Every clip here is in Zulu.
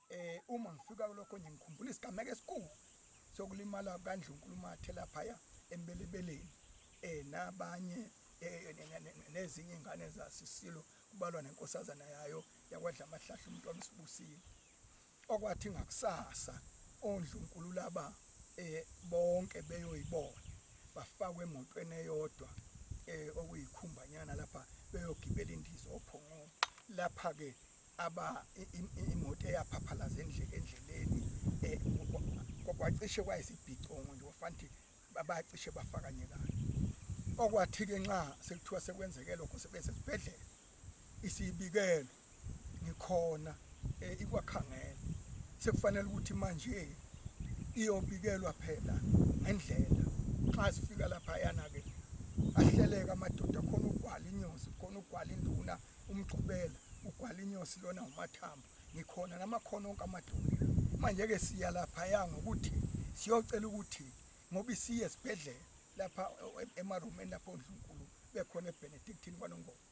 eh uma ngifika kulokho nje ngikhumbula isigameko esikhulu sokulimala kandlunkulu mathe laphaya embelebeleni eh nabanye eh, nezinye ingane zasisilo kubalwa nenkosazana yayo yakwadla amahlahla umuntu wamsibusile okwathi ngakusasa ondlunkulu laba e, bonke beyoyibona, bafakwe emotweni eyodwa e, okuyikhumbanyana lapha beyogibela indiza ophongweni. Lapha-ke aba i- i- i- imoto eyaphaphalaza endle- endleleni e, kwa- kwa- kwacishe kwayisibhicongo nje kwafanti ba- bacishe bafakanyekana. Okwathi-ke nxa sekuthiwa sekwenzeke lokho sebesesibhedlela, Isibikelo, Ngikhona ikwakhangela. Sekufanele ukuthi manje iyobikelwa phela ngendlela. Nxa sifika laphayana-ke ahleleke amadoda khona ugwala inyosi khona ugwala induna umgxubela ugwala inyosi lona umathambo ngikhona namakhono onke amadoda manje-ke siya laphaya ngokuthi siyocela ukuthi ngoba isiye esibhedlela lapha emarumeni lapho ondlunkulu bekhona ebenedictini kwanongoma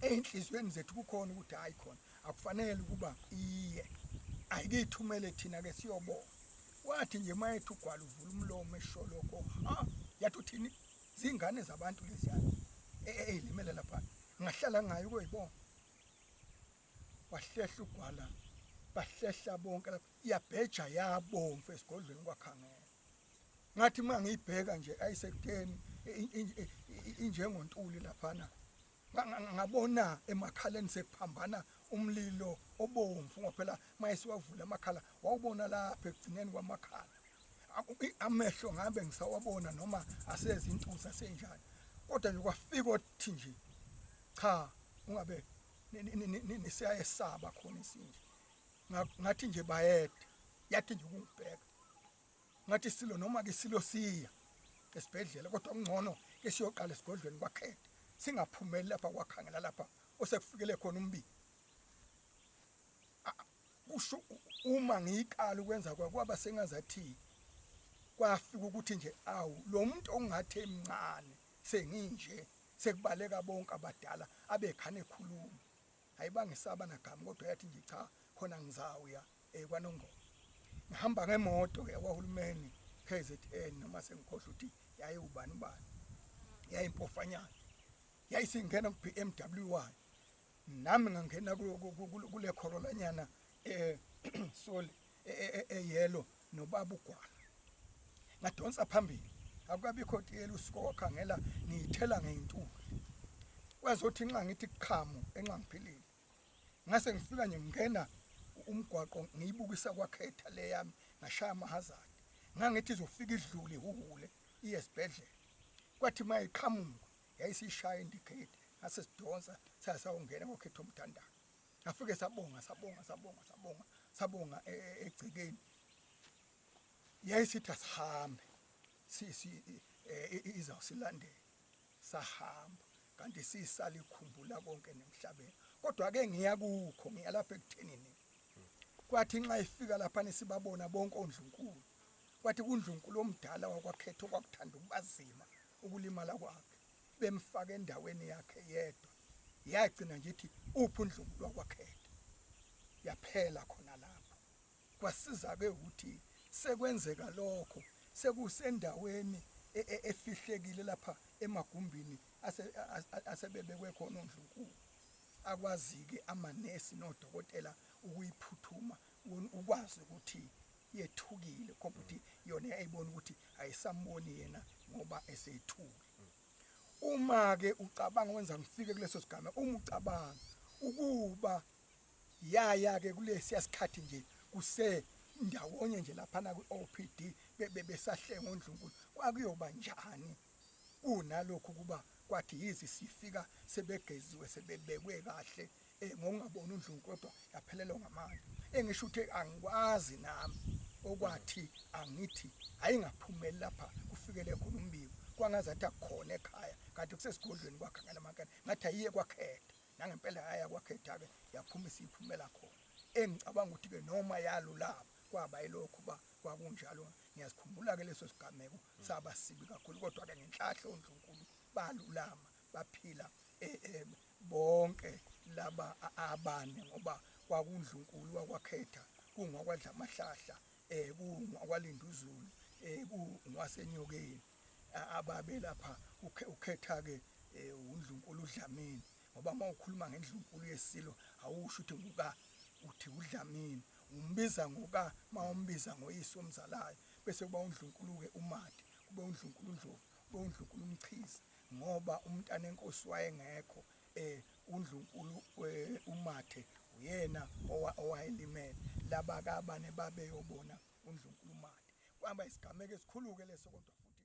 ey'nhliziyweni zethu kukhona ukuthi hhayi khona akufanele ukuba iye ayikithumele thina-ke siyobona wathi nje uma ethi ugwala uvula umlomo esho lokho ha yathi uthini zingane zabantu leziyana eyilimele lapha ngahlala ngayo koyibona wahlehla ugwala bahlehla bonke lapho yabheja yabomvu esigodlweni kwakhangela ngathi uma ngiyibheka nje ayisekuteni injengontuli laphana ngabona emakhaleni sekuphambana umlilo obomvu ngophela mayesiwavula amakhala wawubona lapha ekugcineni kwamakhala amehlo ngabe ngisawabona noma asezi intuza senjani kodwa nje kwafika othi nje cha ungabe siyayesaba khona isinje ngathi nje bayede yathi nje ukungibheka ngathi silo noma ke silo siya esibhedlela kodwa kungcono ke siyoqala esigodlweni kwakhethe singaphumeli lapha kwakhangela lapha osekufikele khona umbi kusho uma ngiyiqala ukwenza kwaba sengazathi kwafika ukuthi nje awu lo muntu ongathi emncane senginje Sekubaleka bonke abadala abekhana ekhuluma. Ayibangisaba nagama kodwa yathi nje cha khona ngizawuya eh kwaNongoma. Ngihamba ngemoto yakwahulumeni KZN noma sengikhohle ukuthi yayewubani ubani. Yayimpofanyana. Yayisingena ku-BMW wayo. nami ngangena kule khorolanyana eh sorry eyelo e, e, e, nobaba ugwala ngadonsa phambili akukabikho tiyela usuku wakhangela ngiyithela ngeyintuli kwazothi nxa ngithi qhamu enxa ngiphilile ngase ngifika nje ngingena umgwaqo ngiyibukisa kwakhetha le yami ngashaya amahazard ngangithi izofika idlule ihuhule iye esibhedlela kwathi mayiqhamuka yayisishaya indikhethi ngase sidonsa saya sawungena ngokhetha umthandazo ngafike sabonga sabonga sabonga sabonga sabonga e, e, egcekeni yayisithi asihambe sisi e, izawusilandela sahamba kanti sisale ikhumbula konke nemhlabeni kodwa ke ngiya kukho ngiya lapha ekuthenini kwathi nxa ifika lapha nisibabona bonke ondlunkulu kwathi kundlunkulu omdala wakwakhetha okwakuthanda ukubazima ukulimala kwakhe bemfaka endaweni yakhe yedwa yagcina nje ithi uphi uNdlunkulu wakwaKhethe yaphela khona lapho kwasiza ke ukuthi sekwenzeka lokho sekusendaweni e, e, efihlekile lapha emagumbini asebebekwe khona ondlunkulu akwazike amanesi nodokotela ukuyiphuthuma ukwazi ukuthi yethukile ngoba ukuthi yona yayibona ukuthi ayisamboni yena ngoba eseyithuke uma-ke ucabanga wenza ngifike kuleso sigame uma ucabanga ukuba yaya-ke kulesiya sikhathi nje kuse ndawonye nje laphana kwi-o p d besahlenga ondlunkulu kwakuyoba njani Kunalokhu kuba kwathi yize sifika sebegeziwe sebebekwe kahle ngokungaboni uNdlungu kodwa yaphelelwa ngamandla engisho ukuthi angikwazi nami okwathi angithi ayingaphumeli lapha kufikele khona umbiko kwangazathi akukhona ekhaya kanti kusesigodlweni kwakhe ngalamakela ngathi ayiye kwakhetha nangempela yaya kwakhetha-ke yaphuma isiyiphumela khona engicabanga ukuthi-ke noma yalulama kwaba yilokhu uba kwakunjalo ngiyazikhumbula-ke leso sigameko saba sibi kakhulu kodwa ke ngenhlahla ondlunkulu balulama baphila eh, eh, bonke laba abane ngoba kwakundlunkulu wakwakhetha kungwakwadla amahlahla eh kungwakwalinda uzulu eh kungwasenyokeni ababe lapha ukhetha ke eh, undlunkulu udlamini ngoba uma ukhuluma ngendlunkulu yesilo awusho ukuthi nguka uthi udlamini umbiza ngoka mawumbiza ngoyise omzalayo bese kuba uNdlunkulu-ke uMadi, kube uNdlunkulu uNdlovu, kube uNdlunkulu uMchizi, ngoba uMntanenkosi wayengekho, um uNdlunkulu um uMathe uyena owayelimele, laba ke abane babeyobona uNdlunkulu uMadi. Kwaba isigameko esikhulu-ke leso kodwa futhi.